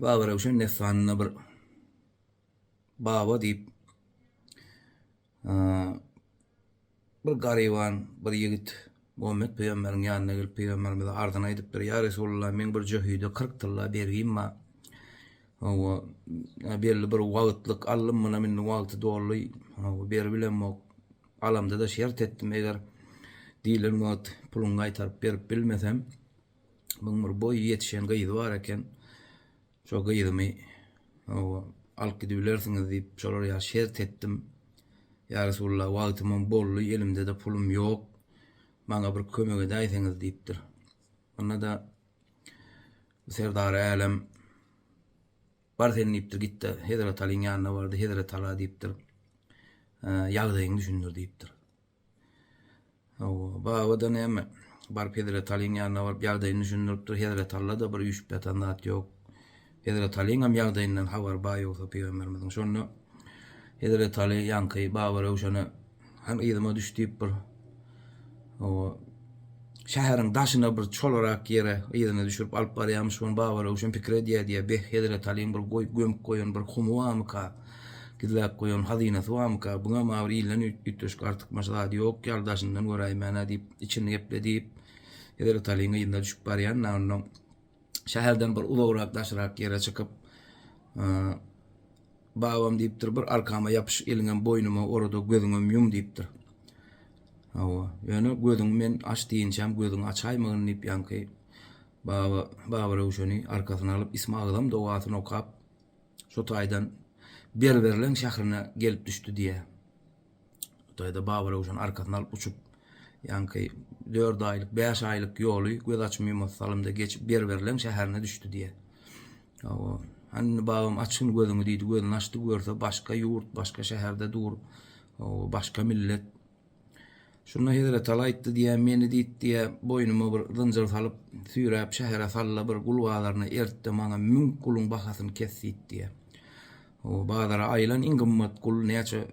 Babarewşen dessanynda bir baba diýip bir garyban bir ýigit Muhammet pygamberiň ýanyna gelip pygamberimize arzyny aýdypdyr. Ýa Resulullah meň bir jöhide 40 tylla bergim bar. Hawa, belli bir wagtlyk aldym munam indi wagty doldy. Hawa, berip bilemok. Alamda-da şert etdim eger diýlen wagt puluny gaýtaryp berip bilmesem, Muň bir boýy ýetişen gyzy bar eken. Şo gyzymy alyp gidibilersiňiz diýip, şolar ýa şert etdim. Ýa Resulullah, wagtymam boldy, elimde-de pulum ýok. Maňa bir kömek edäýseňiz diýipdir. Onda-da Serdar älem bar sen diýipdir, git-de Hezret Alyň ýanyna bar-da, Hezret Ala diýipdir, ýagdaýyňy düşündir diýipdir. Hawa, baba-da näme? Baryp Hezret Alyň ýanyna baryp ýagdaýyny düşündiripdir, Hezret Alla-da bir üýşüp ýatan zat ýok. Hezret Alyňam ýagdaýyndan habary bar ýogsa pygamberimiziň. Şonda Hezret Aly ýaňky baba Röwşene, Hany yzyma düş diýipdir. Hawa. şäheriň daşyna bir çolarak ýere yzyna düşürip alyp barýarmyş şony Babaröwşen pikir edýär diýýär beh hezret Alyň bir goýup gömüp goýan bir humy barmyka gizläp goýan hazynasy barmyka buňa emma bir ilden üýtgeşik artykmaç zady ýok ýaly daşyndan göräýmänä diýip içini gepledi hezret Alyň yzyna düşüp barýan ondan şäherden bir uzagrak daşrak ýere çykyp babam diýipdir bir arkama ýapyş eliňem boýnuma orada gözüňem ýum diýipdir hawa ýöne gözüňi men aç diýinçäm gözüňi açaýmagyn diýip ýaňky baba baba röwşeni arkasyna alyp isma agzam dogasyny okap şu taýdan berberleň şährine gelip düşdi diýýär Hytaýda Babaröwşen arkasyna alyp uçup, ýaňky dört aýlyk, bäş aýlyk ýoly göz açyp-ýumasy salymda geçip Berberleň şäherine düşdi diýýär. Hawa, hany babam açgyn gözüňi diýdi, gözüni açdy, görse başga ýurt, başga şäherde dur, hawa, başga millet. Şunda Hezretala aýtdy diýýär, meni diýdi diýýär, boýnuma bir zynjyr salyp, süýräp şähere sal-da, bir gul bazaryna ert-de, maňa müň guluň bahasyny kes diýdi diýýär. O bazara aýylan iň gymmat gul näçe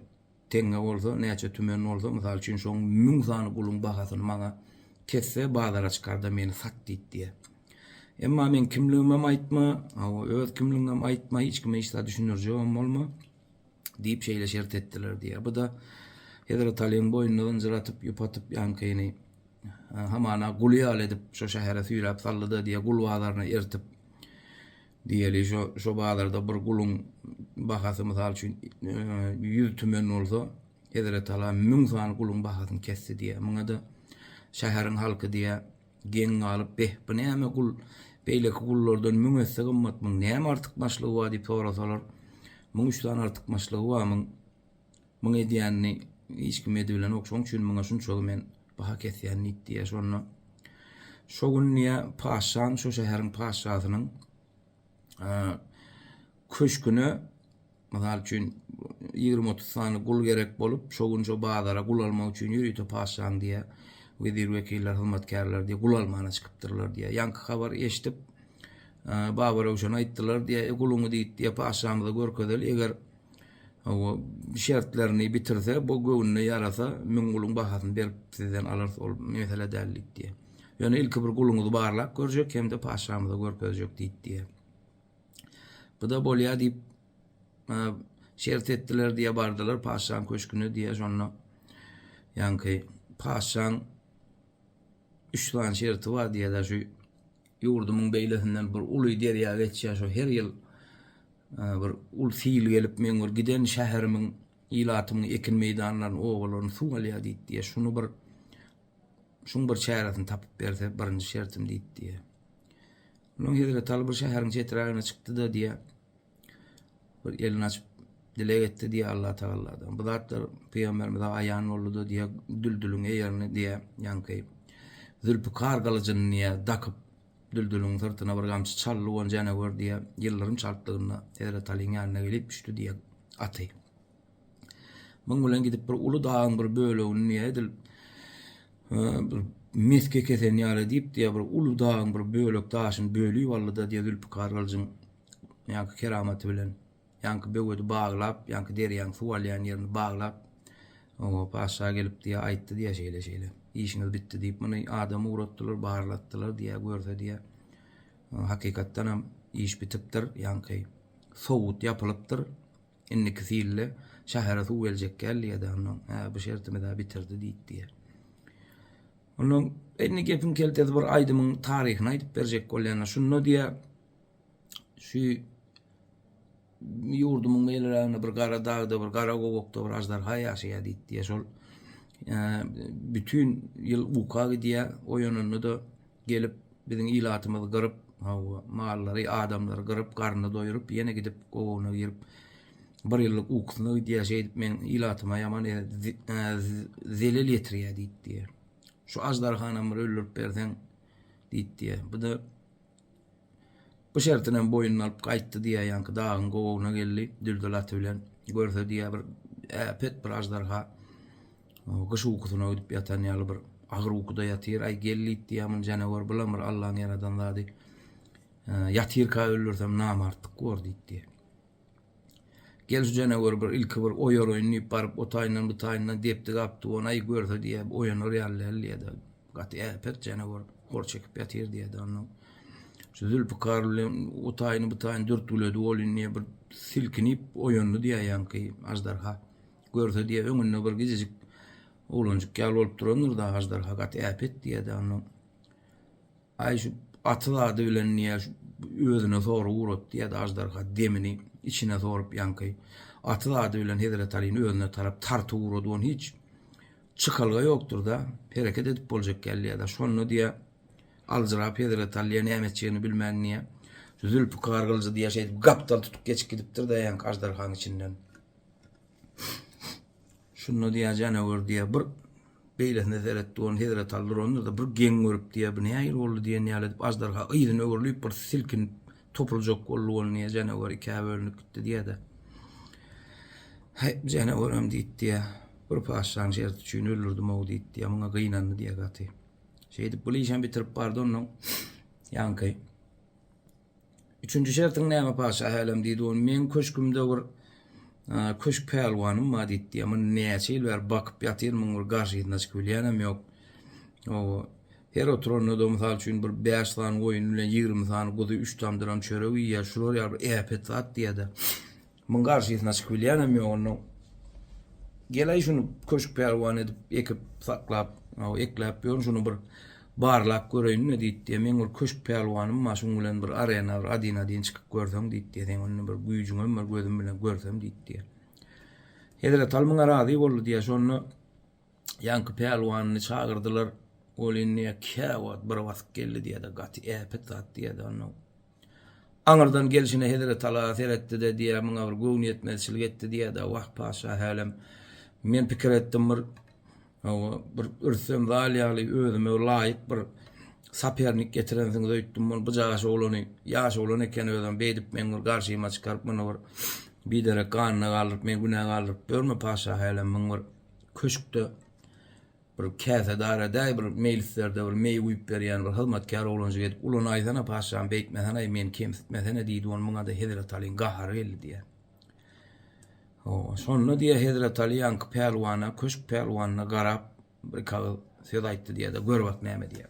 teňňe bolsa, näçe tümen bolsa, mysal üçin şoň müň sany guluň bahasyny maňa kesse, bazara çykar-da meni sat diýip diýýä. Emma meň kimligimem aýtma, hawa, öz kimligiňem aýtma, hiç kime hiç zat düşündirjegem bolma diýip şeýle şert etdiler diýýä. Bu-da Hezret Alyň boýnuna zynjyr atyp, ýüp atyp ýaňkyny hamana guly ýaly edip şo şähere süýräp saldy-da diýýä, gul bazaryna ertip. Diýeli, şo bazarda bir guluň bahasy, mysal üçin, ýüz tümen bolsa, hezretala müň sany guluň bahasyny kesdi diýýär. Muňa-da şäheriň halky diýýär, geň galyp, Beh, bu näme gul? Beýleki gullardan müň esse gymmat. Muň näme artykmaçlygy bar? diýip sorasalar, Muň üç sany artykmaçlygy bar. Muň Muň edýänini hiç kim edibilenok, şoň üçin muňa şunçagy men baha kesýän nit diýýär. Şonda şo gün diýýär, patyşanyň, şo şäheriň patyşasynyň köşgüne, mysal üçin, ýigrimi-otuz sany gul gerek bolup, şo gün şo bazara gul almak üçin ýörite patyşanyň diýýär, wezir-wekiller, hyzmatkärleri diýýär, gul almana çykypdyrlar diýýär. Ýaňky habary eşidip, Babaröwşene aýtdylar diýýär, E, guluňy diýt diýýär, patyşamyza görkezeli, eger Hawa, şertlerini bitirse, bu göwnüne ýarasa, müň guluň bahasyny berip, sizden alarys, ol mesele däl diýip diýýär. Ýöne ilki bir guluňyzy barlap görjek hem-de patyşamyza görkezjek diýip diýýär. Bu-da bolýar diýip, şert etdiler diýýär, bardylar patyşanyň köşgüne diýýär, şonda ýaňky patyşanyň üç sany şerti bar diýýär, şu Ýurdumyň beýlesinden bir uly derýa geçýär, şo her ýyl bir uly sil gelip, meň bir giden şäherimiň, ilatymyň ekin meýdanlaryny, obalaryny suw alýar diýdi. Şuny bir, şuň bir çäresini tapyp berse, birinji şertim diýdi. Onsoň hezreti Aly bir şäheriň çeträgine çykdy-da, diýýär. Bir elini açyp dileg etdi diye Allah Tagalladan. Bu zatlar Peygamberimize aýan boldy da diye düldülüň eýerini diye ýanky Zülpikar gylyjyny diye dakyp düldülüň syrtyna bir gamçy çaldy on jana gör diye ýyldyrym çaltdygynda Hezret Aliň ýanyna gelip düşdi diye aty. Muň bilen gidip bir uly dagyň bir bölegini diye edil bir meske kesen ýaly diýip diye bir uly dagyň bir bölek daşyny bölüp aldy da diye Zülpikar gylyjyň ýaňky keramaty bilen, ýaňky böwedi baglap, ýaňky derýaň suw alýan ýerini baglap, oňa patyşa gelip diýýär, aýtdy diýýär şeýle-şeýle. Işiňiz bitdi diýip, muny adam ugratdylar, barlatdylar diýýär, görse diýýär, hakykatdan hem iş bitipdir, ýaňky sowut ýapylypdyr. Indiki silde şähere suw geljek gel diýýär-de, ondan, hä, bu şertimiz-ä bitirdi diýip diýýär. Ondan indi gepiň keltesi bir aýdymyň taryhyny aýdyp berjek bolýan, şunda diýýär, Şu ýurdumyň meýleräginde bir gara dagda, bir gara gowakda bir aždarha ýaşaýar diýdi. Şol bütin ýyl uka gidýär, oýananda-da gelip biziň ilatymyzy gyryp, hawa, mallary, adamlary gyryp, garnyny doýuryp, ýene gidip gowagyna girip, bir ýyllyk ukusyna gidýär. Şeýdip meniň ilatyma ýaman zelel ýetirýär diýdi. Şu aždarhanam bir öldürip berseň diýdi. Bu-da Bu şertinem boýnuna alyp gaýtdy diýýär, ýaňky dagyň gowagyna geldi, düldül aty bilen. Görse diýýär, bir äpet bir aždarha gyş ukusyna gidip ýatan ýaly bir agyr ukuda ýatyr. Aý, gellit diýýär, muny janawar bilen bir Allaň ýaradan zady. Ýatyrka öldürsem namartlyk bor diýip diýýär. Gel şu jeneweri bir ilki bir oýaraýyn diýip baryp o taýyndan bu taýyndan depdi gapdy ony aý görse diýýä oýanar ýaly däl diýýädä gaty äpet jenewer hor çekip ýatyr diýýädä ondan şu zülpikar bilen o taýyny bu taýyny dürtgüledi ol indi bir silkinip oýandy diýýä ýaňky aždarha görse diýýä öňünde bir gijejik oglanjyk ýaly bolup durandyr da aždarha gaty äpet diýýädä ondan Aý şu gaty zady bilen niýe şu özüne sorag uratdy ýa-da aždarha demini içine sorup ýaňky gaty zady bilen Hezret Alyny özüne tarap tartyp urady ony hiç çykalga ýokdurda hereket edip boljak ýaly ýa-da şonda diýe aljyrap Hezret Alyja näme etjegini bilmän niýe şu Zülpikar gylyjy diýe şeýdip gapdal tutup geçip gidipdirda ýaňky aždarhaň içinden. Şunda diýýär, Janawür diýýär, bir beýlesine seret diýip, ony Hezreti Aly durandyr-da, bir geň görüp diýýär, bu nähili boldy diýen ýaly edip, aždarha yzyna öwrülip, bir silkinip, topuljak boldy, ol diýýär, janawar ikä bölünip gitdi diýýär-de. Häý, janawaram diýip diýýär, bir patyşanyň şerti üçin öldürdim-ow diýip diýýär, muňa gynandy diýýär gaty. Şeýdip, bu işem bitirip bardy, onnoň ýaňky Üçünji şertiň näme paşa hälem diýdi ol. Meň köşkümde bir köşk pälwanym bar diýdi. Muny näçe ýyl bäri bakyp ýatyryn, muň bir garşysyna çykyp bilýänem ýok. Oba, her oturanda-da mysal üçin bir bäş sany goýun bilen ýigrimi sany guzy, üç tamdyram çörek iýýär. Şular ýaly bir äpet zat diýýä-de. Muň garşysyna çykyp bilýänem ýok onda gel-aý şuny köşk pälwan edip ekip saklap aw ekläp ýörün şuny bir barlap göreýin-le diýdi meň bir köşk pälwanym bar şuň bilen bir arena bir adin adin çykyp görseň diýdi seň onda bir güýjüňem bar gözüm bilen görsem diýdi Hezretal muňa razy boldy diýä şonda ýaňky pälwanyny çagyrdylar ol indi kä wagt bir basyp geldi diýä-de gaty äpet zat diýä-de onda Aňyrdan gelşine hezreti Alaga seretdi-de, diýýär, muňa bir göwnüýetmezçilik etdi diýýär-de, Wah, patyşa, hälem, men pikir etdim, bir, hawa, bir ürsem zal ýaly özüme laýyk bir sapernik getirensiňiz öýtdüm, ol bu jaş oglany, ýaş oglan eken özem, beýdip meň bir garşyma çykaryp, muny bir biderek ganyna galdyryp, meni günä galdyryp ýörme, patyşa, hälem, muň bir köşkde, Bir käsedaradäý bir meýlislerde bir meý guýup berýän bir hyzmatkär oglanjyk edip ulanaýsana paşam, beýtmesene-aý, meni kemsitmesene diýdi, ony muňa-da Hezretalyň gahary geldi diýýär. Hawa, şonda diýýär Hezretaly ýaňky pälwana, köşk pälwanyna garap, bir-iki agyz söz aýtdy diýýär-de, gör bak näme diýýär.